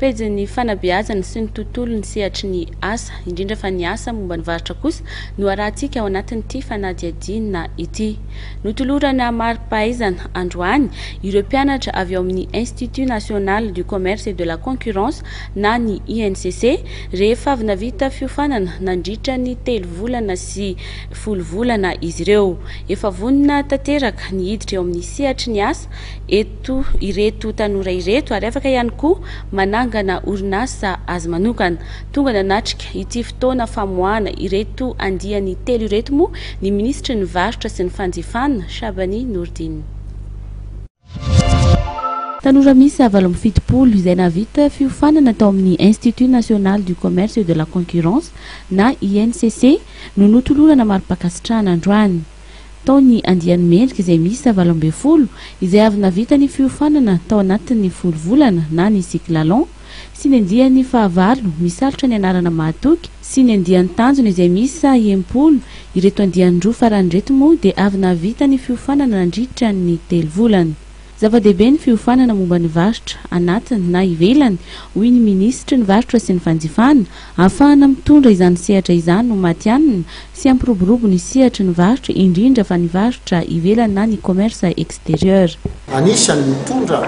Pejin'ny fanabeazana sy ny tontolo ny sehatry ny asa, indrindra fa ny asa momba ny varotra kosa no arahantsika ao anatin'ity fanadihadiana ity. Notolorana mari-pahaizana androany ireo mpianatra avy ao amin'ny Institut National du Commerce et de la Concurrence na ny INCC rehefa avy navita fiofanana nandritra ny telo volana sy folo volana izy ireo. Efa vonona tanteraka ny hiditra eo amin'ny sehatry ny asa eto eto ireto tanora ireto ary afaka ihany koa manangana orinasa azy manokana. Tonga nanatrika ity fotoana famoahana ireto andiany telo ireto moa ny minisitry ny Varotra sy ny Fanjifana, Shabani Nourdine. Tanora miisa valo amby fitopolo izay nahavita fiofanana tao amin'ny Institut National du Commerce et de la Concurrence na INCC no notolorana mari-pankasitrahana androany. tao ny andiany mendrika izay miisa valo ambin'ny folo izay avy navita ny fiofanana tao anatin'ny folo volana na ny cyclalon sy ny andiany fahavalo misalotra ny anarana mahatoky sy ny andiany tanjona izay miisa enimpolo, ireto andiany roa farany ireto moa dia avy nahavita ny fiofanana nandritra ny telo volana. Zava-dehibe ny fiofanana momba ny varotra, anatiny na ivelany, hoy ny minisitry ny Varotra sy ny fanjifana. Ahafahana mitondra izany sehatra izany ho matihanina sy hampiroborobo ny sehatry ny varotra, indrindra fa ny varotra ivelany na ny commerce extérieur. Anisan'ny mitondra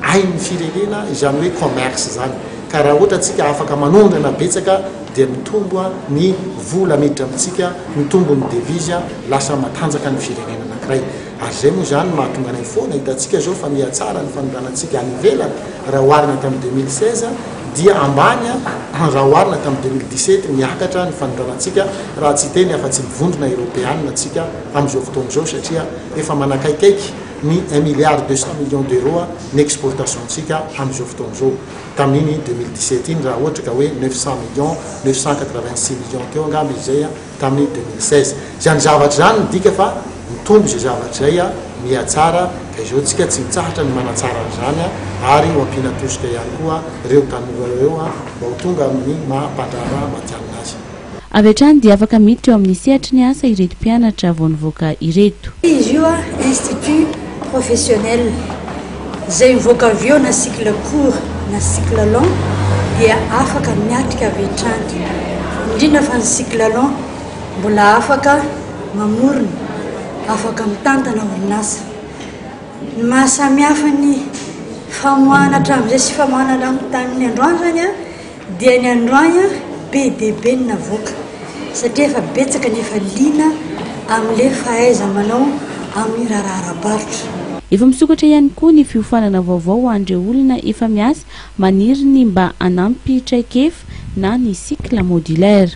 ain'ny firenena izany hoe commerce izany, ka raha ohatra tsika afaka manondrana betsaka dia mitombo ny vola miditra amintsika, mitombo ny devise, lasa matanjaka ny firenena anankiray. Ary izay moa izany no mahatonga anay foana, hitantsika izao fa mihatsara ny fanondranantsika any ivelany raha oharina tamin'ny deux mille seize dia ambany raha oharina tamin'ny deux mille dix sept, miakatra ny fanondranantsika raha tsy hiteny afa-tsy ny vondrona eropeanina tsika amin'izao fotoana izao satria efa manakaikaiky ny un milliard deux cent millions d'euros ny exportations-ntsika amin'izao fotoana izao tamin'iny deux mille dix sept iny raha ohatra ka hoe neuf cent millions, neuf cent quatre vingt six millions teo angamba izay. tamin'ny deux mille seize. Izany zavatra izany midika fa mitombo izay zavatra izay mihatsara ka izao tsika tsy mitsahatra ny manatsara an'izany ary ho ampiana tosika ihany koa ireo tanora ireo mba ho tonga amin'ny maha mpandraharaha matihanina azy. Avy hatrany dia afaka miditra eo amin'ny sehatry ny asa ireto mpianatra vao nivoaka ireto. Izy io Institut Professionnel. Izay mivoaka avy eo na cycle court na cycle long dia afaka miatrika avy hatrany, indrindra fa ny cycle long mbola afaka mamorona, afaka mitantana orinasa. Ny maha samihafa ny famoahana hatramin'izay sy famoahana tamin'ny androany izany an! Dia ny androany an be dia be ny navoaka satria efa betsaka ny efa liana amin'ilay fahaiza-manao amin'ny raharaha ara-barotra. Efa misokatra ihany koa ny fiofanana vaovao ho an'ireo olona efa miasa maniry ny mba hanampy traikefa na ny cycle modulaire.